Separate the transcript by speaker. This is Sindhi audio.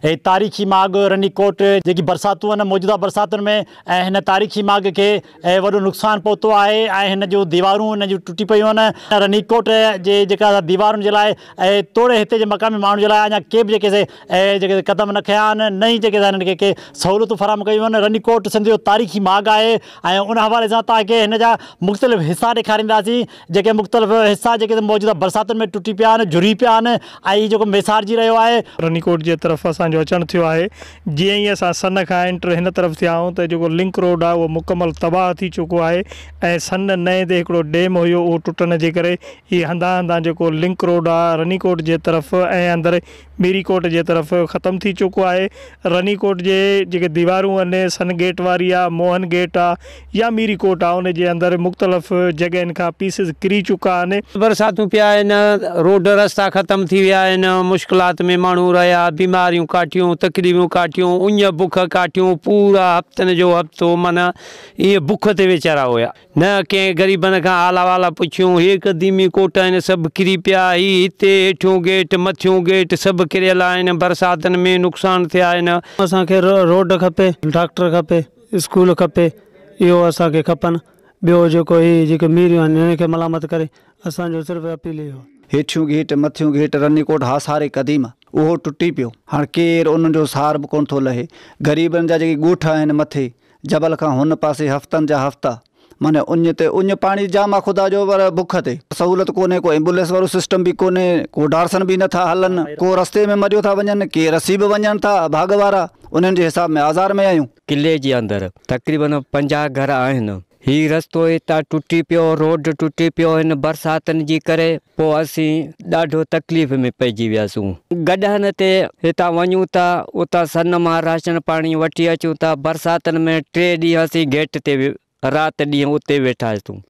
Speaker 1: هي تاريخي ماڳ رني ڪوٽ جيڪي برساتون موجوده برساتن ۾ ۽ هن تاريخي ماڳ کي وڏو نقصان پهتو آهي ۽ هن جون ديوارون هن جون ٽٽي پيون آهن رني ڪوٽ جي جيڪا ديوارن جي لاء توڙي هتي جي مقامي ماڻهن جي لاء اڃا ڪي به جيڪي سي جيڪي قدم نه کنيا آهن نه ئي جيڪي هنن کي ڪي سهولتون فراهم ڪيون آهن رني ڪوٽ سنڌ جو تاريخي ماڳ آهي ۽ ان حوالي سان توهان کي هن جا مختلف حصا ڏيکارينداسين. جيڪي مختلف حصا جيڪي موجوده برساتن ۾ ٽٽي پيا آهن جھري پيا آهن ۽ هي جيڪو ميسارجي رهيو آهي. رنيڪوٽ جي طرف
Speaker 2: اسان جو اچڻ ٿيو آهي جيئن ئي اسان سن کان انٽر هن طرف ٿيا آهيون ته جيڪو لنڪ روڊ آهي اهو مڪمل تباهه ٿي چڪو آهي ۽ سن نئين تي هڪڙو ڊيم هيو اهو ٽٽڻ جي ڪري هي هنڌان هنڌان جيڪو لنڪ روڊ آهي رنيڪوٽ جي طرف ۽ اندر ميري ڪوٽ جي طرف ختم ٿي چڪو آهي رني ڪوٽ جي جيڪي ديوارون ان سن گيٽ واري آ موهن گيٽ آ يا ميري ڪوٽ آ ان جي اندر مختلف جڳهين کان پيسز ڪري چڪا آهن. برساتون پيا آهن
Speaker 3: روڊ رستا ختم ٿي ويا آهن مشڪلات ۾ ماڻهو رهيا بيماريون ڪاٺيون تڪليفون ڪاٺيون اڃ بک ڪاٺيون پورا هفتن جو هفتو معنيٰ ايئن بک تي ويچارا هيا. نه ڪنهن غريبن کان حال احوال پڇيون. هي قديمي ڪوٽ آهن، سڀ ڪري پيا. هي هتي هيٺيون گيٽ، مٿيون گيٽ سڀ ڪريل آهن. برساتن ۾ نقصان ٿيا آهن. اسان کي روڊ
Speaker 4: کپي، ڊاڪٽر کپي، اسڪول کپي، اهو اسان کي کپن. ٻيو جيڪو هي جيڪي ميريون آهن انهن کي ملامت ڪري اسان جو صرف اپيل اهو آهي. هيٺيون گيٽ، مٿيون
Speaker 5: گيٽ رني ڪوٽ هاساري قديم اهو ٽٽي پيو. هاڻ ڪير انهن جو سار به ڪونه ٿو لهي. غريبن جا جيڪي ڳوٺ آهن مٿي جبل کان هن پاسي هفتن جا هفتا معني اڃ تي اڃ پاڻي جام آ خدا جو پر بک تي سهولت ڪونهي ڪو ايمبوليس وارو سسٽم به ڪونهي ڪو ڊارسن به نه ٿا هلن ڪو رستي ۾ مريو ٿا وڃن ڪي رسي به وڃن ٿا اڀاڳ وارا انهن جي حساب ۾ آزار ۾ آهيون. قلعي جي اندر
Speaker 6: تقريبن پنجاهه گهر آهن هي رستو هتان ٽٽي پيو روڊ ٽٽي پيو هن برساتن جي ڪري پوء اسين ڏاڍو تڪليف ۾ پئجي وياسون. گڏهن تي هتان وڃون ٿا، اتان سن مان راشن پاڻي وٺي اچون ٿا. برساتن ۾ ٽي ڏينهن اسين گيٽ تي رات ڏينهن اتي ويٺاسون.